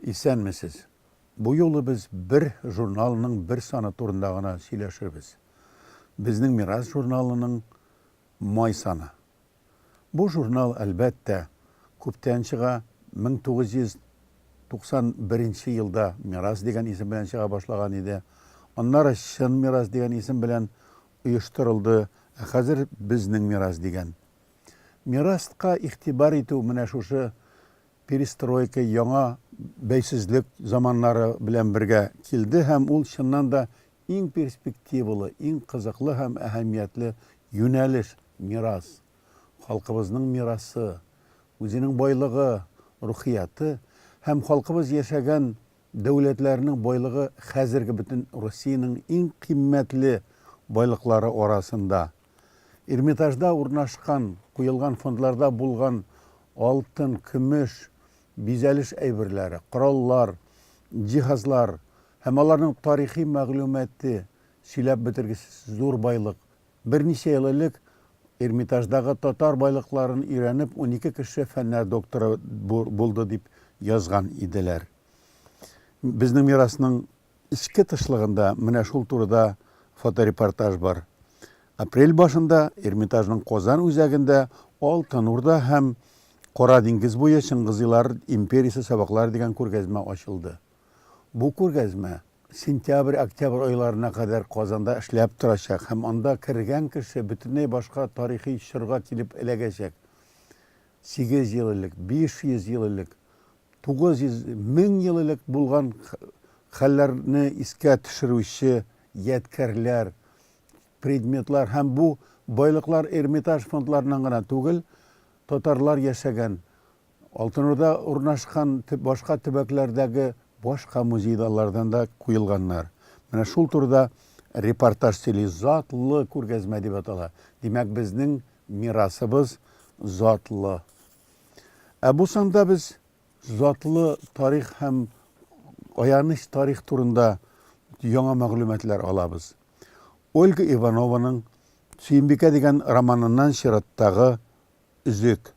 Исәнмесез. Бу юлы без бер журналының бер саны турында гына сөйләшербез. Безнең Мирас журналының май саны. Бу журнал, әлбәттә, күптән чыга, 1991 нче елда Мирас дигән исем белән чыга башлаган иде. Аннары Чын мирас дигән исем белән оештырылды, ә хәзер Безнең мирас дигән. Мирастка игътибар итү менә шушы перестройка, яңа бәйсезлек заманнары белән бергә килде һәм ул, чыннан да, Иң перспективалы, иң кызыклы һәм әһәмиятле юнәлеш, мирас. Халкыбызның мирасы, үзенең байлыгы, рухияте һәм халкыбыз яшәгән дәүләтләрнең байлыгы хәзерге бөтен Россиянең иң кыйммәтле байлыклары арасында. Эрмитажда урнашкан, куелган фондларда булган алтын, көмеш, бизәлеш әйберләре, кораллар, җиһазлар, Һәм аларның тарихи мәгълүматы, сөйләп бетергесез зур байлык. Берничә ел элек Эрмитаждагы татар байлыкларын өйрәнеп унике кеше фәннәр докторы булды дип язган иделәр. Безнең мирасның эчке тышлыгында менә шул турыда фоторепортаж бар. Апрель башында Эрмитажның Казан үзәгендә Алтын Урда һәм Кара диңгез буе Чыңгызыйлар империясе сабаклары дигән күргәзмә ачылды. Бу күргәзмә сентябрь-октябрь айларына кадәр Казанда эшләп торачак һәм анда кергән кеше бөтенләй башка тарихи чорга килеп эләгәчәк. 800 ел элек, 500 ел элек, 900, 1000 ел элек булган хәлләрне искә төшерүче ядкәрләр, предметлар һәм бу байлыклар Эрмитаж фондларыннан гына түгел, татарлар яшәгән, Алтын Урда урнашкан башка төбәкләрдәге башка музей-заллардан да куелганнар. Менә шул турыда репортаж сөйли, Затлы күргәзмә дип атала. Димәк, безнең мирасыбыз затлы. Ә бу санда без затлы тарих һәм аяныч тарих турында яңа мәгълүматлар алабыз. Ольга Иванованың Сөембикә дигән романыннан чираттагы Өзек.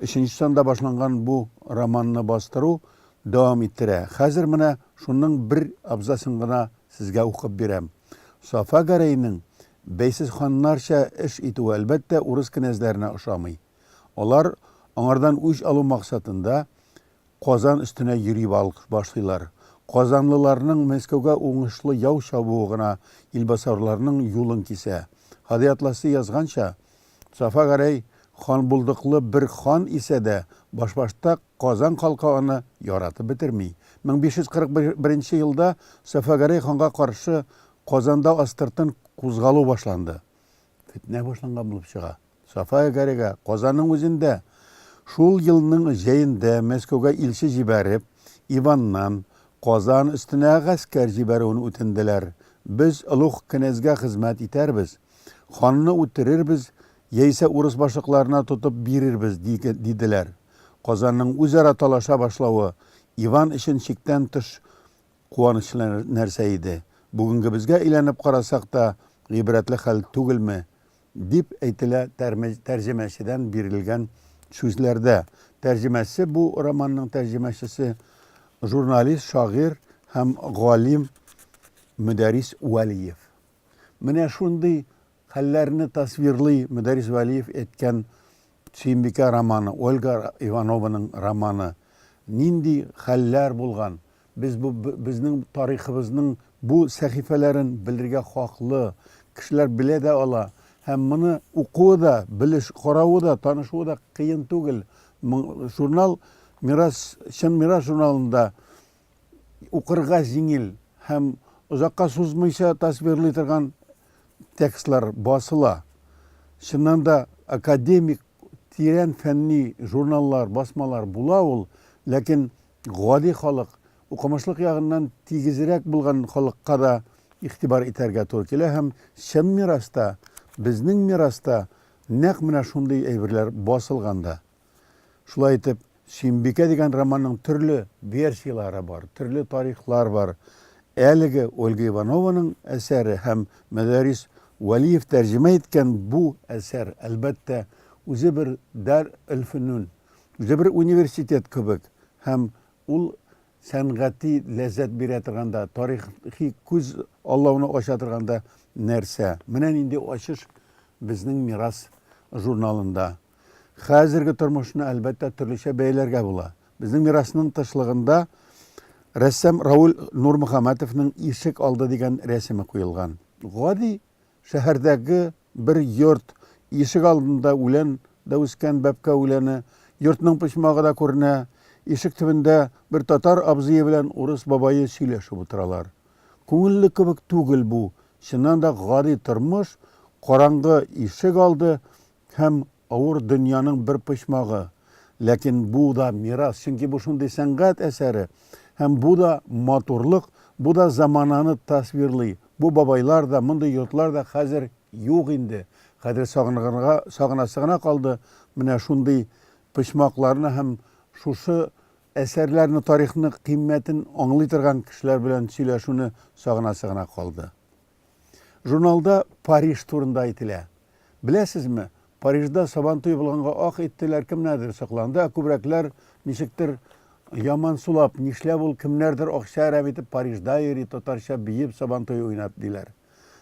Өченче санда башланган бу романны бастыру дәвам иттерә. Хәзер менә шуның бер абзацын гына сезгә укып бирәм. Сафа Гәрәйнең бәйсез ханнарча эш итүе, әлбәттә, урыс кенәзләренә ошамый. Алар, аңардан үч алу максатында, Казан өстенә йөри башлыйлар. Казанлыларның Мәскәүгә уңышлы яу чабуы гына илбасарларның юлын кисә. Һади Атласи язганча, Сафа Гәрәй ханбулдыклы бер хан исә дә, башбашта Казан халкы аны яратып бетерми. 1541 нче елда Сафа Гәрәй ханга каршы Казанда астыртын кузгалу башланды. Фетнә башланган булып чыга. Сафая Гарига Казанның үзендә, шул елның җәендә Мәскәүгә илче җибәреп, Иваннан Казан өстенә гаскәр җибәрүен үтенделәр. Без олуг кенәзгә хезмәт итәрбез, ханны үтерербез яисә урыс башлыкларына тотып бирербез, диделәр. Казанның үзара талаша башлавы Иван өчен чиктән тыш куанычлы нәрсә иде. Бүгенгебезгә әйләнеп карасак та, гыйбрәтле хәл түгелме? Дип әйтелә тәрҗемәчедән бирелгән сүзләрдә. Тәрҗемәче бу романның тәрҗемәчесе, журналист, шагыйрь һәм галим Мөдәрис Вәлиев. Менә шундый хәлләрне тасвирлый Мөдәрис Вәлиев әйткән Сөембикә романы, Ольга Иванованың романы. Нинди хәлләр булган, Без бу безнең тарихыбызның бу сәхифәләрен белергә хаклы. Кешеләр белә дә ала. Һәм моны укуы да, белеш, каравы да, танышуы да кыен түгел. Журнал Мирас, Чын мирас журналында укырга җиңел һәм озакка сузмыйча тасвирлый торган текстлар басыла. Чыннан да академик, тирән фәнни журналлар, басмалар була ул, ләкин гади халык, укымышлык ягыннан тигезрәк булган халыкка да игътибар итәргә туры килә һәм чын мираста, безнең мираста нәкъ менә шундый әйберләр басылган да. Шулай итеп, Сөембикә дигән романның төрле версияләре бар, төрле тарихлар бар. Әлеге Ольга Иванованың әсәре һәм Мөдәррис Вәлиев тәрҗемә иткән бу әсәр, әлбәттә, үзе бер Дарь эльфөнүн, Үзе бер университет кебек һәм ул сәнгати ләззәт бирә торган да, тарихи күз аллауны ача торган да нәрсә. Менә нинди ачыш безнең Мирас журналында. Хәзерге тормышны, әлбәттә, төрлечә бәяләргә була. Безнең мирасның тышлыгында рәссам Рауль Нурмөхәммәтовның Ишек алды дигән рәсеме куелган. Гади Шәһәрдәге бер йорт ишек алдында үлән дә үскән, бәбкә үләне. Йортның почмагы да күренә. Ишек төбендә бер татар абзые белән урыс бабае сөйләшеп утыралар. Күңелле кебек түгел бу, чыннан да гади тормыш, караңгы ишек алды һәм Авыр дөньяның бер почмагы, ләкин бу да мирас, чөнки бу шундый сәнгать әсәре, һәм бу да матурлык, бу да замананы тасвирлый, бу бабайлар да, мондый йортлар да хәзер юк инде, хәзер сагынырга сагынасы гына калды менә шундый почмакларны һәм шушы әсәрләрне, тарихны кыйммәтен аңлый торган кешеләр белән сөйләшүне сагынасы гына калды. Журналда Париж турында әйтелә. Беләсезме, Парижда Сабантуй булганга ах иттеләр, кемнәрдер сокланды, ә күбрәкләр ничектер яман сулап, нишләп ул кемнәрдер акча әрәм итеп Парижда йөри, татарча биеп Сабантуй уйнап диләр.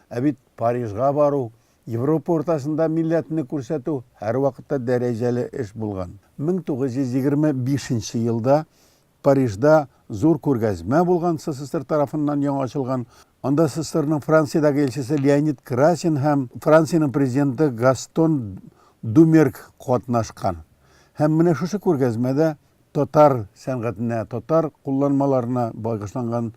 Ә бит Парижга бару, Европа уртасында милләтне күрсәтү һәрвакытта дәрәҗәле эш булган. 1925 нче елда Парижда зур күргәзмә булган СССР тарафыннан яңа ачылган. Анда СССРның Франциядәге Илчесе Леонид Красин һәм Франциянең Президенты Гастон Думерг катнашкан. Һәм менә шушы күргәзмәдә татар сәнгатенә, татар кулланмаларына багышланган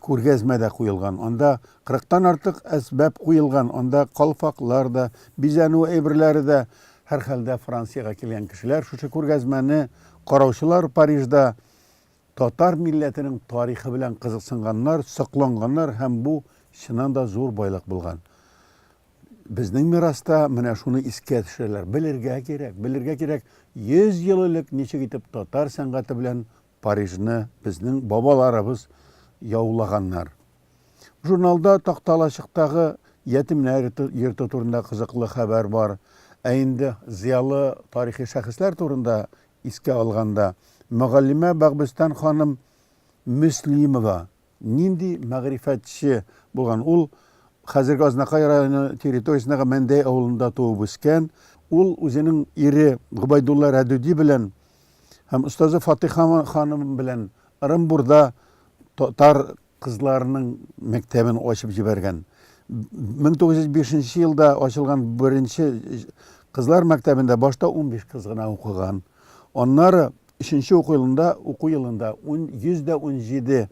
Күргәзмә дә куелган. Анда кырыктан артык әсбап куелган. Анда калфаклар да, бизәнү әйберләре дә. Һәрхәлдә, Франциягә килгән кешеләр шушы күргәзмәне караучылар, Парижда татар милләтенең тарихы белән кызыксынганнар, сокланганнар һәм бу, чыннан да, зур байлык булган. Безнең мираста менә шуны искә төшерәләр. Белергә кирәк, белергә кирәк, йөз ел элек ничек итеп татар сәнгате белән Парижны безнең бабаларыбыз яулаганнар. Журналда Такталачыктагы ятимнәр йорты турында кызыклы хәбәр бар. Ә инде зыялы тарихи шәхесләр турында искә алганда, мөгаллимә Багбестан ханым Мөслимова Нинди мәгърифәтче булган! Ул хәзерге Азнакай районы территориясендәге Мәндәй авылында туып-үскән. Ул үзенең ире Гобәйдулла Рәдүди белән һәм остазы Фатыйха ханым белән Ырымбурда татар кызларының мәктәбен ачып җибәргән. 1905 елда ачылган беренче кызлар мәктәбендә башта унбиш кыз гына укыган. Аннары Өченче уку елында уку елында ун 117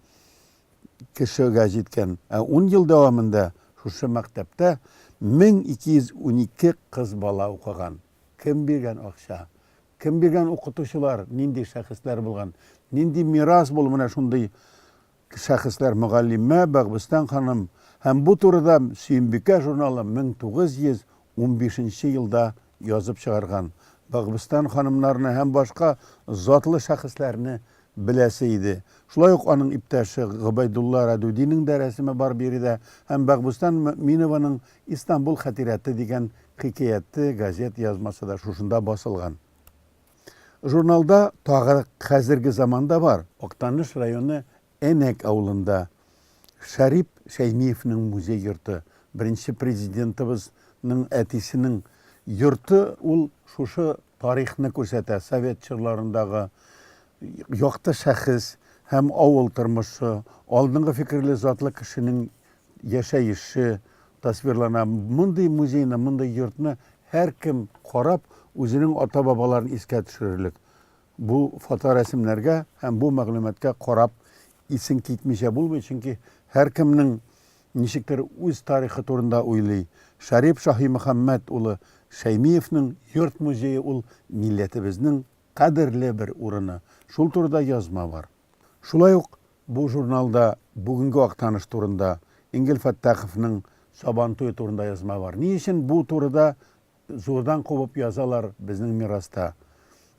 кешегә җиткән, ә ун ел дәвамында шушы мәктәптә 1212 кыз бала укыган. Кем биргән акча? Кем биргән укытучылар, нинди шәхесләр булган? Нинди мирас бул менә шундый шәхесләр мөгаллимә Бәгъбүстән ханым һәм бу турыда Сөембикә журналы 1915 нче елда язып чыгарган. Бәгъбүстән ханымнарны һәм башка затлы шәхесләрне беләсе иде. Шулай ук аның иптәше Гобәйдулла Рәдүдинең дә рәсеме бар биредә һәм Бәгъбүстән Мөэминованың Истанбул хәтирәте дигән хикәяте газета язмасы да шушында басылган. Журналда тагы хәзерге заманда бар. Актаныш районы Әнәк авылында Шәрип Шәймиевнең музей йорты, беренче Президентыбыз ның әтисенең йорты ул шушы тарихны күрсәтә, совет чорларындагы якты шәхес һәм авыл тормышы, алдынгы фикерле затлы кешенең яшәеше тасвирлана. Мондый музейны, мондый йортны һәркем карап, үзенең ата-бабаларын искә төшерерлек. Бу фоторәсемнәргә һәм бу мәгълүматка карап исең китмичә булмый, чөнки һәркемнең ничектер үз тарихы турында уйлый. Шәрип Шаһимөхәммәт улы Шәймиевнең йорт-музее ул милләтебезнең кадерле бер урыны. Шул турыда язма бар. Шулай ук Бу журналда бүгенге Актаныш турында, Энгель Фәттаховның Сабантуе турында язма бар. Ни өчен бу турыда зурдан кубып язалар безнең мираста?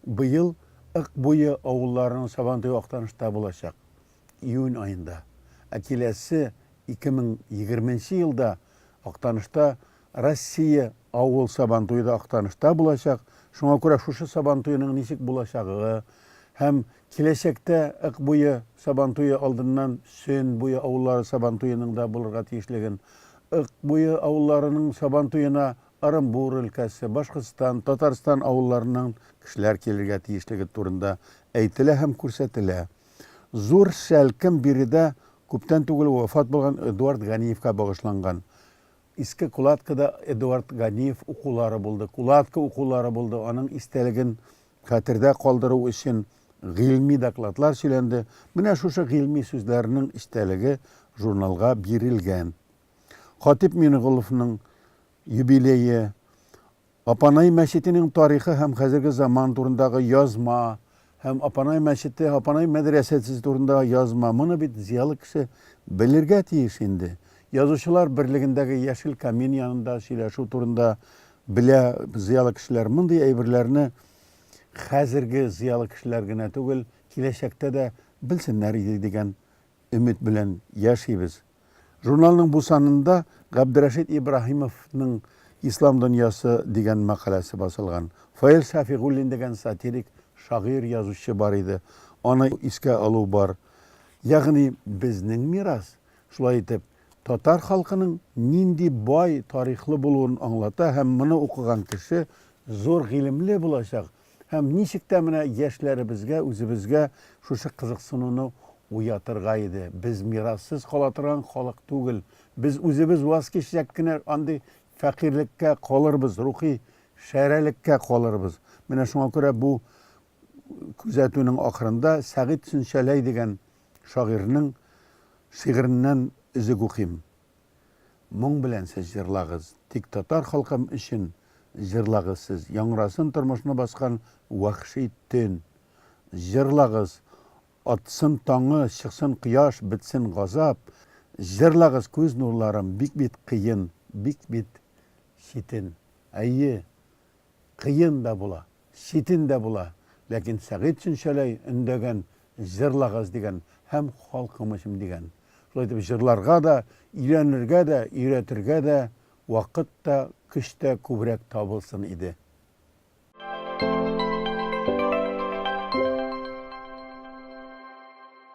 Быел Ык буе авылларының Сабантуе Актанышта булачак, июнь аенда. Ә киләсе 2020 нче елда Актанышта Россия авыл Сабантуе да Актанышта булачак. Шуңа күрә шушы Сабантуеның ничек булачагы һәм Киләчәктә Ык буе Сабантуе алдыннан Сөн буе авыллары Сабантуеның да булырга тиешлеген, Ык буе авылларының Сабантуена Ырынбур өлкәсе, Башкортстан, Татарстан авылларыннан кешеләр килергә тиешлеге турында әйтелә һәм күрсәтелә. Зур шәлкем биредә күптән түгел вафат булган Эдуард Ганиевка багышланган. Иске Кулаткада Эдуард Ганиев укулары булды, Кулатка укулары булды, аның истәлеген Хәтердә калдыру өчен гыйльми докладлар сөйләнде. Менә шушы гыйльми сүзләрнең эчтәлеге журналга бирелгән. Хатип Минеголовның юбилее, Апанай мәчетенең тарихы һәм хәзерге заман турындагы язма һәм Апанай мәчете, Апанай мәдрәсәсе турында язма, моны бит зыялы кеше белергә тиеш инде. Язучылар берлегендәге Яшел камин янында сөйләшү турында Белә зыялы кешеләр, мондый әйберләрне хәзерге зыялы кешеләр генә түгел, киләчәктә дә белсеннәр иде дигән өмет белән яшибез. Журналның бу санында Габдрәшит Ибраһимовның Ислам дөньясы дигән мәкаләсе басылган. Фаил Шәфигуллин дигән сатирик шагыйрь, язучы бар иде. Аны искә алу бар. Ягъни безнең мирас Шулай итеп, татар халкының нинди бай тарихлы булуын аңлата һәм моны укыган кеше зур гыйлемле булачак һәм ничек тә менә яшьләребезгә, үзебезгә шушы кызыксынуны уятырга иде. Без мирассыз кала торган халык түгел. Без үзебез ваз кичсәк кенә андый фәкыйрьлеккә калырбыз, рухи шәрәлеккә калырбыз. Менә шуңа күрә бу күзәтүнең ахырында Сәгыйть Сөнчәләй дигән шагыйрьнең шигыреннән өзек укыйм. Моң белән сез җырлагыз, тик татар халкым өчен җырлагыз сез, яңрасын тормышны баскан вәхши төн. Җырлагыз, атсын таңы, чыксын кояш, бетсен газап. Җырлагыз, күз нурларым, бик бит кыен, бик бит читен. Әйе, Кыен да була, читен дә була, ләкин Сәгыйть Чүнчәләй өндәгән Җырлагыз дигән һәм Халкым өчен дигән. Шулай итеп, җырларга да, өйрәнергә дә, өйрәтергә дә вакыт та, көч тә күбрәк табылсын иде.